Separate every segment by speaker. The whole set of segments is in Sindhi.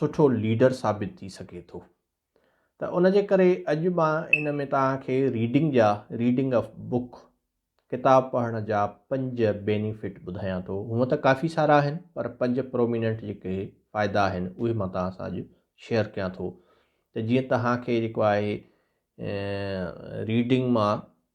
Speaker 1: سٺو ليڊر ثابت ٿي سگهي ٿو ته ان جي ڪري اڄ مان ان ۾ توهان کي ريڊنگ جا ريڊنگ آف بڪ ڪتاب پڙهڻ جا پنج بينيفٽ ٻڌايان ٿو هونء ته ڪافي سارا آهن پر پنج پروميننٽ جيڪي فائدا آهن اهي مان توهان سان اڄ شيئر ڪيان ٿو ته جيئن توهان کي جيڪو آهي ريڊنگ مان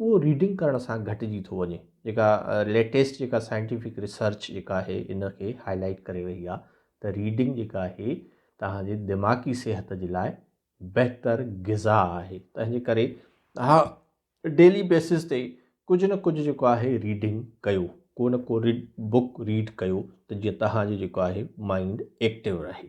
Speaker 1: اهو ريڊنگ ڪرڻ سان گهٽجي ٿو وڃي جيڪا ليٽيسٽ جيڪا سائنٽيفڪ ريسرچ جيڪا آهي ان کي هاء لائيٽ ڪري رهي آهي ته ريڊنگ جيڪا آهي توهان جي دماغي صحت جي لاء بهتر غذا آهي تنهنجي ڪري توهان ڊيلي بيسس تي ڪجهه نه ڪجهه جيڪو آهي ريڊنگ ڪيو ڪو نه ڪو ريڊ بڪ ريڊ ڪيو ته جيئن توهان جو جيڪو آهي مائنڊ ايڪٽو رهي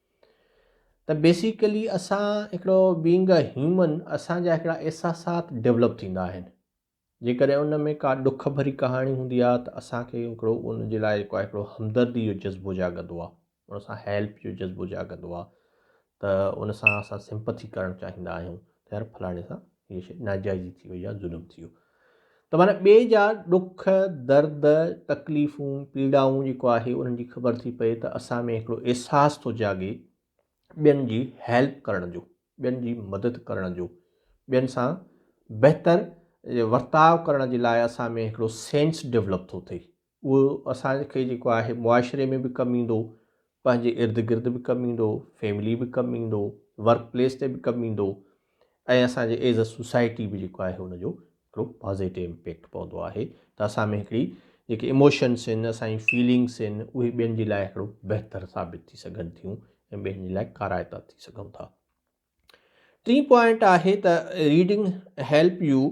Speaker 1: ته بيسيڪلي اسان هڪڙو بينگ اي هيومن اسان جا هڪڙا احساسات ڊولپ ٿيندا آهن جيڪڏهن ان ۾ ڪا ڏک ڀري ڪهاڻي هوندي آهي ته اسان کي هڪڙو ان جي لاء جيڪو آهي هڪڙو همدردي جو جذبو جاڳندو آهي ان سان هيلپ جو جذبو جاڳندو آهي ته ان سان اسان سمپٿي ڪرڻ چاهيندا آهيون ته يار فلاڻي سان هيء شيء ناجائزي ٿي وئي يا ظلم ٿي ويو ته معنيٰ ٻئي جا ڏک، درد، تڪليفون، پيڙائون جيڪو آهي انهن جي خبر ٿي پئي ته اسان ۾ هڪڙو احساس ٿو جاڳي ٻين جي هيلپ ڪرڻ جو، ٻين جي مدد ڪرڻ جو، ٻين سان بهتر ورتاء ڪرڻ جي لاء اسان ۾ هڪڙو سينس ڊيولپ ٿو ٿئي. اهو اسان کي جيڪو آهي معاشري ۾ به ڪم ايندو، پنهنجي ارد گرد به ڪم ايندو، فيملي به ڪم ايندو، ورڪ پليس تي به ڪم ايندو ۽ اسان جي ايز اي سوسائٽي به جيڪو آهي ان جو هڪڙو پازيٽو امپيڪٽ پوندو آهي ته اسان ۾ هڪڙي جيڪي اموشنس آهن اسان جي فيلنگس آهن اهي ٻين جي لاء هڪڙو بهتر ثابت ٿي سگهن ٿيون ۽ ٻين جي لاء ڪارائتا ٿي سگهون ٿا ٽين پوائنٽ آهي ته reading help you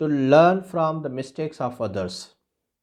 Speaker 1: to learn from the mistakes of others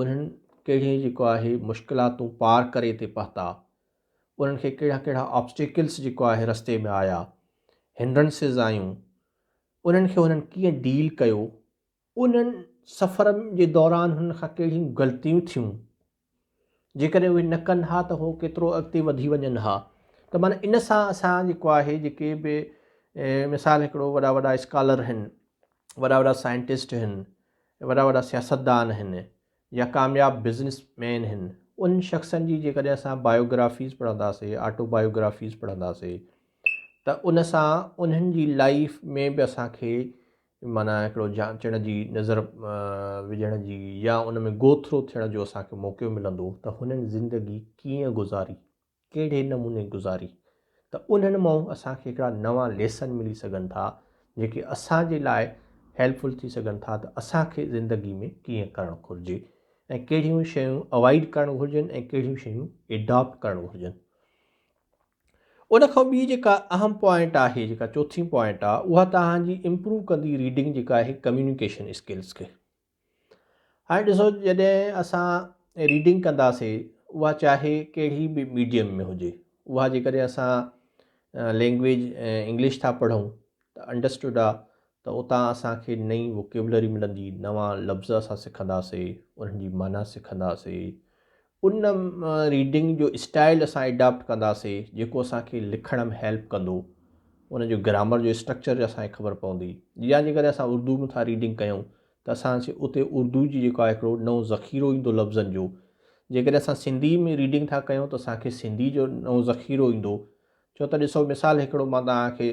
Speaker 1: انهن ڪهڙيون جيڪو آهي مشڪلاتون پار ڪري اتي پهتا انهن کي ڪهڙا ڪهڙا آبسٽيڪلس جيڪو آهي رستي ۾ آيا هنڊرنسز آيون انهن کي هنن ڪيئن ڊيل ڪيو انهن سفر جي دوران هنن کان ڪهڙيون غلطيون ٿيون جيڪڏهن اهي نه ڪن ها ته هو ڪيترو اڳتي وڌي وڃن ها ته مانا ان سان اسان جيڪو آهي جيڪي به مثال هڪڙو وڏا وڏا اسڪالر آهن وڏا وڏا سائنٽسٽ آهن وڏا وڏا سياستدان هن يا ڪامياب بزنس مين هن انهن شخصن جي جيڪڏهن اسان بايوگرافيز پڙهنداسي آٽو بايوگرافيز پڙهنداسي ته ان سان انهن جي لائف ۾ به اسان کي مانا هڪڙو جانچڻ جي نظر وجهڻ جي يا ان ۾ گو ٿرو ٿيڻ جو اسان کي موقعو ملندو ته هنن زندگي ڪيئن گذاري ڪهڙي نموني گذاري ته انهن مان اسان کي هڪڙا نوان ليسن ملي سگهن ٿا جيڪي اسان جي لاء هيلپ فل ٿي سگهن ٿا ته اسان کي زندگي ۾ ڪيئن ڪرڻ گهرجي ۽ ڪهڙيون شيون اوائڊ ڪرڻ گهرجن ۽ ڪهڙيون شيون اڊاپٽ ڪرڻ گهرجن ان کان ٻي جيڪا اهم پوائنٽ آهي جيڪا چوٿين پوائنٽ آهي اها توهان جي امپروو ڪندي ريڊنگ جيڪا آهي ڪميونيڪيشن اسڪلس کي هاڻي ڏسو جڏهن اسان ريڊنگ ڪنداسي اها چاهي ڪهڙي به ميڊيم ۾ هجي اها جيڪڏهن اسان لينگويج انگلش ٿا پڙهون ته انڊرسٽوڊ آ ته اتان اسانکي نئي ووڪيبلري ملندي نوان لفظ اسان سکنداسي انهن جي معنيٰ سکنداسي ان ريڊنگ جو اسٽائل اسان اڊاپٽ ڪنداسي جيڪو اسان کي لکڻ ۾ هيلپ ڪندو ان جو گرامر جو اسٽرڪچر اسان کي خبر پوندي جا جي ڪري اسان اردو ۾ ٿا ريڊنگ ڪيون ته اسان کي اتي اردو جي جيڪو آهي هڪڙو نئون ذخيرو ايندو لفظن جو جي ڪري اسان سنڌي ۾ ريڊنگ ٿا ڪيون ته اسان کي سنڌي جو نئون ذخيرو ايندو ڇو ته ڏسو مثال هڪڙو مان تان کي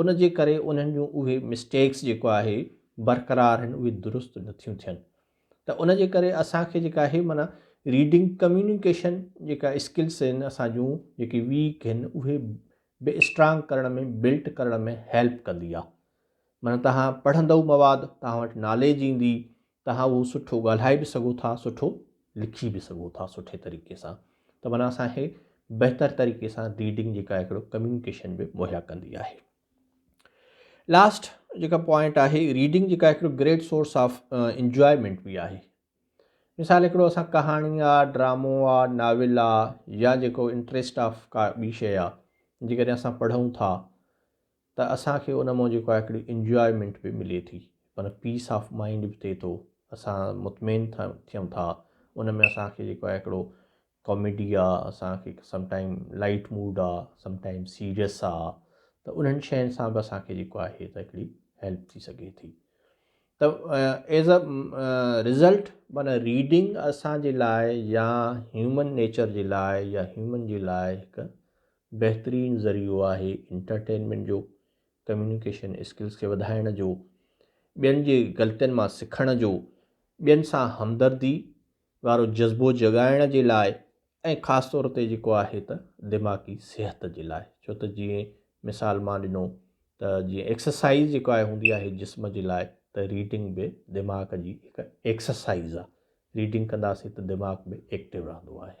Speaker 1: ان جي ڪري انهن جون اهي مسٽيڪس جيڪو آهي برقرار آهن اهي درست نٿيون ٿين ته ان جي ڪري اسان کي جيڪا آهي معنيٰ ريڊنگ ڪميونيڪيشن جيڪا اسڪلس آهن اسان جون جيڪي ويڪ آهن اهي به اسٽرانگ ڪرڻ ۾ بلٽ ڪرڻ ۾ هيلپ ڪندي آهي معنيٰ توهان پڙهندو مواد توهان وٽ ناليج ايندي توهان اهو سٺو ڳالهائي به سگهو ٿا سٺو لکي به سگهو ٿا سٺي طريقي سان ته معنيٰ اسان کي بهتر طريقي سان ريڊنگ جيڪا هڪڙو ڪميونيڪيشن به مهيا ڪندي آهي لاسٽ جيڪا پوائنٽ آهي ريڊنگ جيڪا هڪڙو گريٽ سورس آف انجوائمنٽ به آهي مثال هڪڙو اسان ڪهاڻي آ ڊرامو آ ناول آ يا جيڪو انٽرسٽ آف ڪا ٻي شيء آ جيڪڏهن اسان پڙهون ٿا ته اسان کي ان مان جيڪو آهي هڪڙي انجوائمينٽ به ملي ٿي پر پيس آف مائنڊ به ٿئي ٿو اسان مطمئن ٿيون ٿا ان ۾ اسان کي جيڪو آهي هڪڙو ڪاميڊي آ اسان کي سم ٽائيم لائٽ موڊ آ سم ٽائيم سيريس آ ته انهن شين سان به اسان کي جيڪو آهي ته هڪڙي هيلپ ٿي سگهي ٿي ته ايز ا رزلٽ معنی ريڊنگ اسان جي لاء يا هيومن نيچر جي لاء يا هيومن جي لاء هڪ بهترين ذريعو آهي انٽرٽينمينٽ جو، ڪميونيڪيشن اسڪلز کي وڌائڻ جو، ٻين جي غلطين مان سکڻ جو، ٻين سان همدردي وارو جذبو جڳائڻ جي لاء ۽ خاص طور تي جيڪو آهي ته دماغي صحت جي لاء ڇو ته جيئن مثال مان ڏنو ته جيئن ايڪسرسائز جيڪو آهي هوندي آهي جسم جي لاء ته ريڊنگ به دماغ جي هڪ ايڪسرسائز آهي ريڊنگ ڪنداسين ته دماغ به ايڪٽو رهندو آهي